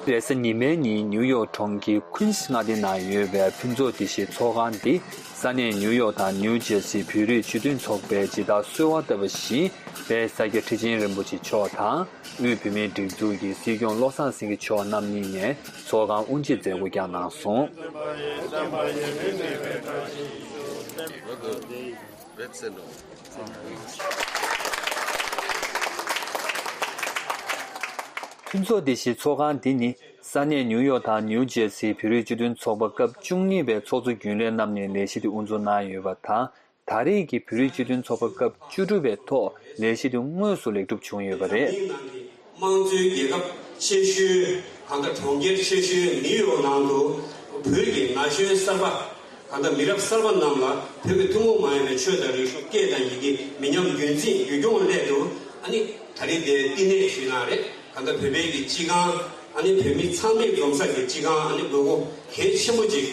རེས་གཟའ་ཉི་མའི་ཉིན་ནེའུ་ཡོག་གྲོང་ཁྱེར Queens མངའ་སྡེ་ནང་ཡོད་པའི་ཕུན་ཚོགས་བདེ་གཤེགས་ཚོགས་ཁང་འདི་ས་གནས་ནེའུ་ཡོག་དང་ནེའུ་ཇེར་སི་བོད་རིགས་ཇུས་འདོན་ཚོགས་པའི་ཇི་ལྟར་གསོལ་བ་བཏབ་པ་བཞིན་པའི་ས་སྐྱ་ཁྲི་ཆེན་རིན་པོ་ཆེ་མཆོག་དང་དབུས་བུད་མེད་སྒྲིག་འཛུགས་ཀྱི་སྲིད་སྐྱོང་བློ་བཟང་སེང་གེ་མཆོག་རྣམ་གཉིས་ནས་ཚོགས་ཁང་དབུ་འབྱེད་མཛད་སྒོ་བསྐྱངས་གནང་སོང། བའི་ཚེ་ལོ། མཐུན་ཚོགས་འདི་བཞིན་ཚོགས་ཁང་འདི་ནི་ས་གནས་ནིའུ་ཡོག་དང་ནིའུ་ཇེར་སིའི་བོད་རིགས་སྤྱི་མཐུན་ཚོགས་པ་སྐབས་བཅུ་གཉིས་པའི་ཚོགས་གཙོ་རྒྱུན་ལས་རྣམ་ནས་ལས་གཞི་འདི་དབུ་འཛུགས་གནང་ཡོད་པ་དང་ད་རེས་ཀྱི་བོད་རིགས་སྤྱི་མཐུན་ཚོགས་པ་སྐབས་བཅུ་དྲུག་པའི་ཐོག་ལས་གཞི་འདི་དངོས་སུ་ལེགས་གྲུབ་བྱུང་ཡོད་པ་རེད། དམངས་གཙོའི་རྒྱལ་ཁབ་ཆེ་ཤོས་གང་དང་གྲོང་ཁྱེར་ཆེ་ཤོས་ནིའུ་ཡོག་ནང་དུ་བོད་ཀྱི་ན་གཞོན་གསར་པ་གང་དང་མི་རབས་གསར་པ་རྣམས་ལ་བོད་ཀྱི་ཐུན་མོང་མ་ཡིན་པའི་ཆོས་དང་རིག་གཞུང་སྐད་དང་ཡི་གེ་མི་ཉམས་རྒྱུན་འཛིན་རྒྱུད་སྐྱོང་སླད་དུ་ཨ་ནི་ད་རིང་དེ་བསྟི་གནས་ཞུས་ན་རེད་གང་དང་བོད་པའི་གི་སྤྱི་ཁང་ཨ་ནི་བོད་མི་ཚང་མས་འཛོམས་ས་གི་སྤྱི་ཁང་ཨ་ནི་དགོས་མཁོ་གལ་ཆེན་པོ་ཅིག་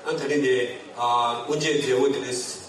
ཨ་ནི་ད་རིང་དེ་དབུ་འབྱེད་མཛད་སྒོ་དེ་རིང།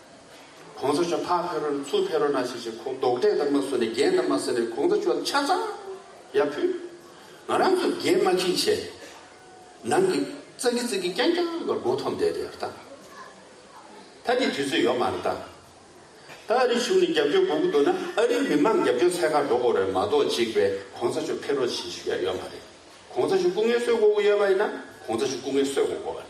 གོང་ས་མཆོག་ཕག་ཕེ་རོ་ན་ཚུར་ཕེ་རོ་ན་ཞིག་ཞིག་ཁོང་རྡོག་ཁྲེས་ལྟར་མ་བཟོ་ནས་རྒྱན་ལྟར་མ་བཟོ་ནས་གོང་ས་མཆོག་ལ་ཆ་ཚང་ཡར་ཕུད། ང་རང་ཚོ་རྒྱན་དམར་ཁྱིལ་བྱས་ནང་གི་ཙག་གི་ཙིག་གི་རྐྱང་རྐྱང་བར་སྒོ་འཐོམ་བསྡད་དེ་ཡར་བལྟ། ད་དེ་དུས་ཚོད་ཡོད་མ་རེད་ད། ད་ཨ་རིའི་གཞུང་ནས་རྒྱབ་སྐྱོར་དགོས་ཀྱི་འདུག་ན་ཨ་རིའི་མི་མང་རྒྱབ་སྐྱོར་ཚད་ཁ་འགྲོ་དགོས་རེད་མ་གཏོགས་གཅིག་པས་གོང་ས་མཆོག་ཕེ་རོ་བྱེད་ཤུགས་ཡང་ཡོད་མ་རེད། གོང་ས་མཆོག་སྐུ་ངལ་གསོས་དགོས་ཀྱི་ཡོད་པ་ཡིན་ན་གོང་ས་མཆོག་སྐུ་ངལ་གསོས་དགོས་དགོས་རེད།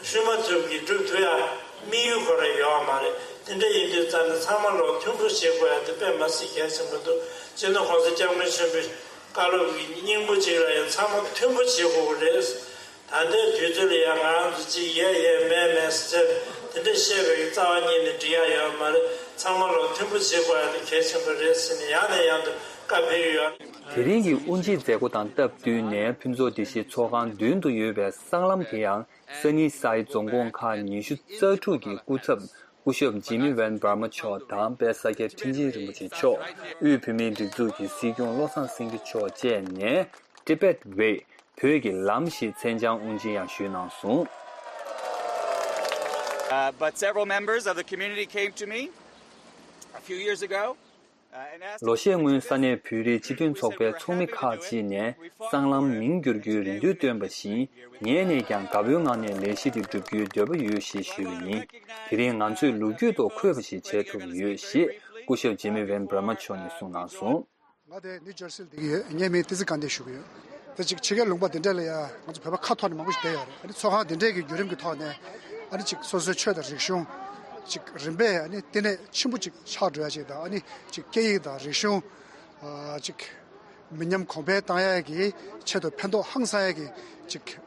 བཤུས་མ་ཚུལ་གྱིས་བསྒྲུབ་ཐུབ་ཡང་དམིགས་ཡུལ་གོ་རེ་ཡོད་བ་མ་རེད་དེ་འདྲ་ཡིན་དུས་རྩ་ནས་ཚང་མ་ལོག་མཐུན་ཁུར་བྱེད་དགོས་ཡ་དེ་དཔེ་མ་སྲིད་གལ་ཆེན་པོ་འདུག་སྤྱིར་ན་ཁོང་ཚོ་སྐྱབས་མགོན་ཆེན་པོའི་བཀའ་སློབ་ཀྱི་སྙིང་པོ་གཅིག་ལ་ཡང་ཚང་མ་མཐུན་པོ་བྱེད་དགོས་པ་རེད། ད་ལྟའི་དུས་ཚོད་ལ་ཡང་ང་རང་ཚོ་གཅིག་ཡས་ཡས་མས་མས་སུ་ཟེར་དེ་འདྲ་བཤད་པའི་རྩ་བ་ཉིད་ནས་འགྲིག་ཡ་ཡོད་བ་མ་རེད་ཚང་མ་ལོག་མཐུན་པོ་བྱེད་དགོས་ཡ་དེ་གལ་ཆེན་པོ་རེད་ཟེར་ནས་ཡང་ནས་ཡང་དུ་བཀའ་ཕེབས་ཡོད། དེ་རིང་གི་དབུ་འབྱེད་མཛད་སྒོ་དང་སྟབས་བསྟུན་ནས་ཕུན་ཚོགས་སྒྲིག་གཞི་ཚོགས་ཁང་མདུན་དུ་ཡོད་པའི་སྲང་ལམ་དེ་ཡང་ས་ནི་སའི་རྫོང་དགོན་ཁག་ཉི་ཤུ་རྩ་དྲུག་གི་སྐུ་ཚབ་སྐུ་ཞབས་ཇི་མི་ཝན་བྷར་མ་མཆོག་དང་དཔལ་ས་སྐྱ་ཁྲི་འཛིན་རིན་པོ་ཆེ་མཆོག་དབུས་བོད་མིའི་སྒྲིག་འཛུགས་ཀྱི་སྲིད་སྐྱོང་བློ་བཟང་སེང་གེ་མཆོག་བཅས་ནས Tibet Way བོད་ཀྱི་ལམ་ཞེས་མཚན་བྱང་དབུ་འབྱེད་ཡང་ཞུས་གནང་སོང། ལོ་ཤས་སྔོན་ས་གནས་བོད་རིགས་སྤྱི་མཐུན་ཚོགས་པའི་ཚོགས་མི་ཁག་ཅིག་ནས་སྲང་ལམ་མིང་བསྒྱུར་རྒྱུའི་རེ་འདུན་བཏོན་པ་བཞིན་ངས་ནས་ཀྱང་དགའ་བོའི་ངང་ནས་ལས་གཞི་དེ་བསྒྲུབ་རྒྱུའི་འདོད་པ་ཡོད་ཞེས་ཞུས་པ་ཡིན། དེ་རིང་ང་ཚོས་ལོ་རྒྱུས་ཐོག་འཁོད་པ་ཞིག་བྱེད་ཐུབ་ཡོད་ཞེས་སྐུ་ཞབས་ཇེ་མི་ཝེན་བྷར་མ་མཆོག་ནས་གསུངས་གནང་སོང། ང་དེ་ནིའུ་ཇར་སིལ་འདེགས་ཡོད་ངས་མི་དེ་ཚོ་དགའ་འདེགས་ཞུ་གི་ཡོད། དེ་ཅིག་ཕྱི་རྒྱལ་ལུང་པ་འདི་འདྲ་ལ་ཡང་ང་ཚོ་བོད་པ་ཁ་ཐོར་ནས་མང་པོ་ཞིག་བསྡད་ཡོད་རེད་ཨ་ནི་ཚོགས་ཁང་འདི་འདྲའི་གི་བརྒྱུད་རིམ་གི་ཐོག་ནས་ཨ་ནི་ཅིག་སོ་སོའི་ཆོས་དང་རིག་གཞུང་ཅིག་རིམ་པས་ཨ་ནི་བསྟི་གནས་ཆེན་པོ་ཅིག་ཆགས་འགྲོ་ཡ་ཅིག་དང་ཨ་ནི་ཅིག་སྐད་ཡིག་དང་རིག་གཞུང་ཅིག་མི་ཉམས་གོང་འཕེལ་བཏང་ཡ་གི་ཆེད་དུ་ཕན་ཐོག་ཧང་སང་ཡ་གི་ཅིག།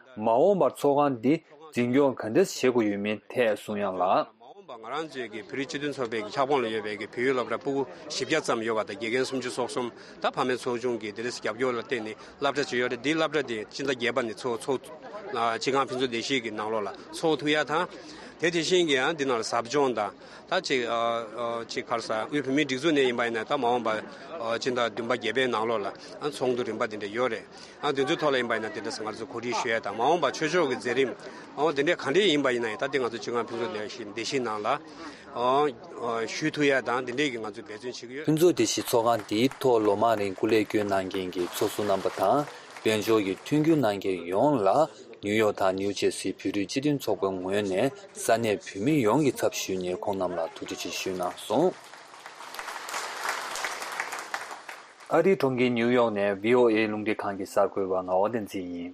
མ་འོངས་པར་ཚོགས་ཁང་འདི་འཛིན་སྐྱོང་ག་འདྲ་བྱེད་དགོས་ཡོད་མིན་ཐད་གསུང་དབྱངས་ལགས། མ་འོངས་པར་ང་རང་ཚོའི་གི་བོད་རིགས་སྤྱི་མཐུན་ཚོགས་པའི་གི་ཁྱབ་ཁོངས་ལ་ཡོད་པའི་གི་བོད་ཡུལ་སློབ་གྲྭ་སྤུ་གུ་བཞི་བརྒྱ་ཙམ་ཡོད་པ་དང་དགེ་རྒན་སུམ་ཅུ་སོ་གསུམ་དང་ཕ་མའི་ཚོགས་ཆུང་གི་དེ་ལས་རྒྱབ་སྐྱོར་ལ་བརྟེན་ནས་བསླབ་གྲྭ་བྱེད་ཡོད་རེད་འདིའི་བསླབ་གྲྭ་དེ་སྤྱི་ཟླ་བརྒྱད་པ་ནས་ཚོགས་ཚོགས་སྤྱི་ཁང་ཕུན་ཚོགས་བདེ་གཤེགས་གི་ནང་ལོགས་ལ་ཚོགས་ཐུག་ཡ་དང། དེ་དེ་བཞིན་གི་ཡང་འདི་ནང་ལ་ཟབ་སྦྱོང་དང་ད་ཅིག་ཅིག་ཁར་ས་དབུས་བོད་མིའི་སྒྲིག་འཛུགས་ནས་ཡིན་པ་ཡིན་ན་ད་མ་འོངས་པ་སྤྱི་ཟླ་བདུན་པ་བརྒྱད་པའི་ནང་ལོགས་ལ་ཡང་ཚོགས་འདུ་རིམ་པ་འདི་འདྲ་ཡོད་རེད། ཡང་དེ་ཚོའི་ཐོག་ལ་ཡིན་པ་ཡིན་ན་དེ་འདྲ་ཟེར་ང་ཚོས་གོ་སྒྲིག་ཞུ་ཡ་དང་མ་འོངས་པ་ཆོས་ཕྱོགས་ཀྱི་མཛད་རིམ་མ་འོངས་དེ་འདྲས་ག་འདྲས་ཡིན་པ་ཡིན་ན་ཡང་ད་ལྟའི་ང་ཚོ་སྤྱི་ཁང་ཕུན་ཚོགས་སྡེ་བཞིའི་ནང་ལ་ཞུས་ཐུབ་ཡ་དང་དེ་འདྲས་ཀྱི་ང་ཚོས་འབད་བརྩོན་བྱེད་ཀྱི་ཡོད། ཕུན་ཚོགས་སྡེ་བཞིའི་ཚོགས་ཁང་འདིའི་ཐོག་ལོ་མང་རིང་སྐུ་ལས་བསྐྱོན་གནང་མཁན་གྱི་ཚོགས་ཟུར་རྣམ་པ་དང་དཔལ་འབྱོར་གྱི་མཐུན་འགྱུར་གནང་མཁན་ཡོངས་ལ་ནིའུ་ཡོག་དང་ནིའུ་ཇེར་སིའི་བོད་རིགས་སྤྱི་མཐུན་ཚོགས་པའི་ངོས་ནས་ས་གནས་བོད་མི་ཡོངས་ཀྱི་ཚབ་ཞུས་ནས་ཁོང་རྣམས་ལ་ཐུགས་རྗེ་ཆེ་ཞུས་གནང་སོང། ཨ་རིའི་གྲོང་ཁྱེར་ཉིའུ་ཡོག་ནས VOA རླུང་འཕྲིན་ཁང་གི་གསར་འགོད་པ་ངག་དབང་བསྟན་འཛིན་ཡིན།